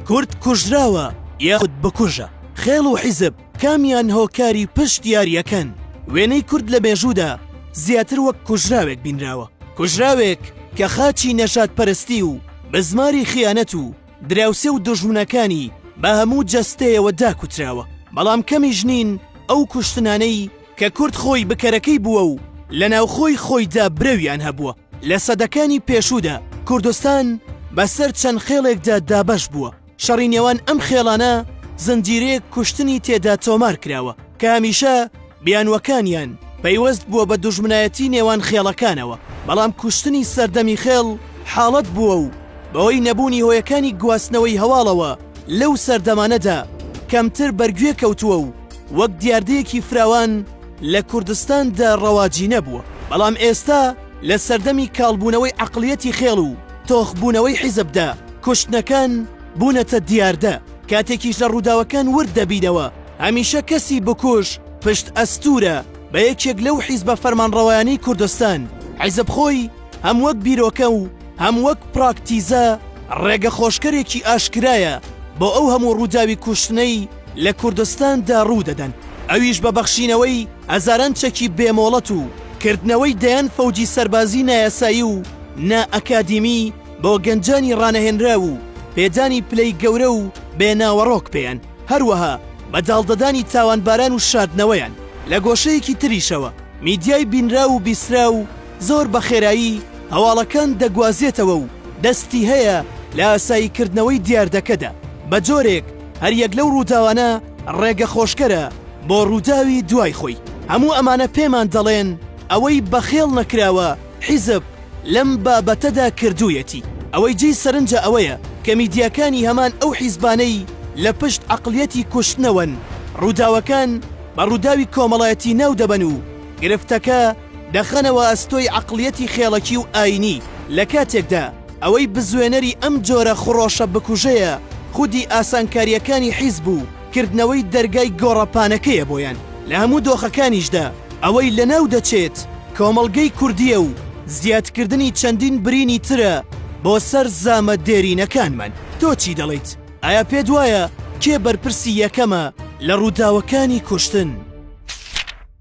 کورد کوژراوە یاخود بکوژە خێڵ و حیزب کامیان هۆکاری پشت یاریەکەن وێنەی کورد لە مێژوودا زیاتر وەک کوژراوێک بینراوە کوژراوێک کە خاچی نەژات پەرستی و بزماری خیانەت و دراوسێ و دژمنەکانی بە هەموو جەستەیەوە داکوتراوە بەڵام کەمی ژنین ئەو کوشتنانەی کە کورد خۆی بکەرەکەی بووە و لە ناوخۆی خۆیدا برەویان هەبووە لە سەدەکانی پێشوودا کوردستان بەسەر چەند خێڵێکدا دابەش بووە، شەڕی نێوان ئەم خێڵانە زنجیرەیەک کوشتنی تێدا تۆمار کراوە کە هەمیشە بیانووەکانیان پەیوەست بووە بە دوژمنایەتی نێوان خێڵەکانەوە، بەڵام کوشتنی سەردەمی خێڵ حاڵەت بووە و بەهۆی نەبوونی هۆیەکانی گواستنەوەی هەواڵەوە لەو سەردەمانەدا کەمتر بەرگوێ کەوتووە و وەک دیاردەیەکی فراوان لە کوردستان دا ڕەواجی نەبووە، بەڵام ئێستا لە سەردەمی کاڵبوونەوەی عەقڵیەتی خێڵ و تۆخبوونەوەی حیزب دا، کوشتنەکان بوونەتە دیاردە، کاتێکیش لە ڕووداوەکان ورد دەبینەوە، هەمیشە کەسی بکوژ پشت ئەستوورە بە یەکێک لەو حیزبە فەرمانڕەوایانەی کوردستان، حیزب خۆی هەم وەک بیرۆکە و هەم وەک پراکتیزە ڕێگەخۆشکەرێکی ئاشکرایە بۆ ئەو هەموو ڕووداوی کوشتنەی، لە کوردستان دا ڕوو دەدەن، ئەویش بە بەخشینەوەی هەزاران چەکی بێ مۆڵەت و کردنەوەی دەیان فەوجی سەربازی نایاسایی و نا ئەکادیمی بۆ گەنجانی ڕانەهێنراو و پێدانی پلەی گەورە و بێ ناوەڕۆک پێیان، هەروەها بە داڵدەدانی تاوانباران و شاردنەوەیان. لە گۆشەیەکی تریشەوە میدیای بینراو و بیسراو زۆر بە خێرایی هەواڵەکان دەگوازێتەوە و دەستی هەیە لە ئاسایی کردنەوەی دیاردەکەدا بە جۆرێک، هەریەک لەو ڕووداوانە ڕێگە خۆشکەرە بۆ ڕووداوی دوای خۆی، هەموو ئەمانە پێمان دەڵێن ئەوەی بەخێڵ نەکراوە حیزب لەم بابەتەدا کردوویەتی، ئەوەی جێی سەرنجە ئەوەیە کە میدیاکانی هەمان ئەو حیزبانەی لە پشت عەقڵیەتی کوشتنەوەن ڕووداوەکان بە ڕووداوی کۆمەڵایەتی ناودەبەن و گرفتەکە دەخەنەوە ئەستۆی عەقڵیەتی خێڵەکی و ئایینی لە کاتێکدا ئەوەی بزوێنەری ئەم جۆرە خڕۆشە بکوژەیە خودی ئاسانکارییەکانی حیزب و کردنەوەی دەرگای گۆڕەپانەکەیە بۆیان لە هەموو دۆخەکانیشدا ئەوەی لەناو دەچێت کۆمەڵگەی کوردییە و زیادکردنی چەندین برینی ترە بۆ سەر زامە دێرینەکانمان. تۆ چی دەڵێیت؟ ئایا پێت وایە کێ بەرپرسی یەکەمە لە ڕووداوەکانی کوشتن؟